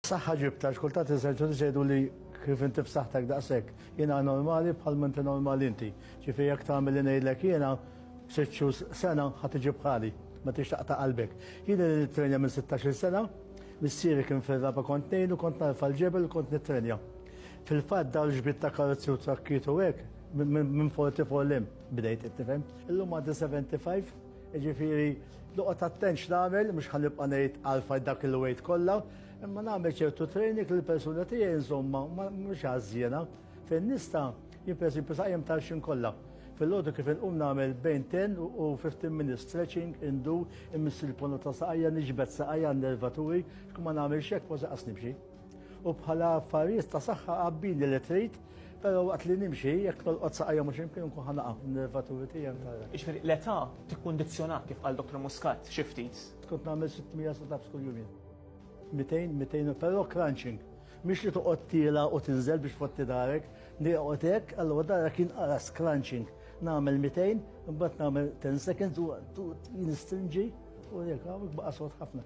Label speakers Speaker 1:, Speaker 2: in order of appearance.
Speaker 1: Saħħa ġibta, għax kultant il-Senċudiċi jgħidu li kif inti f'saħħtek daqshekk, jiena normali bħal ma inti normali inti. Ġifi jekk tagħmel li ngħidlek jiena, sitt xhur sena ħadd iġi bħali, ma tix taqta' qalbek. Jien li nittrenja minn 16-il sena, missieri kien fir-raba' kont ngħinu, kont narfa' l-ġebel kont nittrenja. Fil-fatt dawn ġbid ta' karozzi u trakkiet u hekk minn 44 l-hemm bdejt, qed tifhem. Illum għandi 75. Jiġifieri noqgħod attent x'nagħmel, mhux ħa nibqa' ngħid għalfajn dak il-weight kollha, imma nagħmel ċertu training li l-persuna tiegħi nżommha mhux għażżiena fejn nista' jien pereżempju saqjem tal-xim kollha. Fil-ħodu kif inqum nagħmel bejn 10 u 15 minutes stretching, indu, immiss il-pona ta' saqajja, niġbed saqajja nervaturi, xkum ma nagħmel xek, ma saqas nibxi. U bħala affarijiet ta' saħħa qabbini li trid, però waqt li nimxi jekk tolqot saqajja mhux imkien nkun ħanaqa nervaturi tiegħi tara. Jiġifieri l-età
Speaker 2: tikkundizzjonak kif qal Dr. Muscat xi ftit. Kont nagħmel 600
Speaker 1: sit-ups kull jumien. 200, 200, però crunching. Mhix li toqgħod tiela u tinżel biex fotti darek, nieqgħod hekk, allura dara kien qaras crunching. Nagħmel 200, imbagħad nagħmel 10 seconds u nistrinġi u jekk hawnhekk baqa' sod ħafna.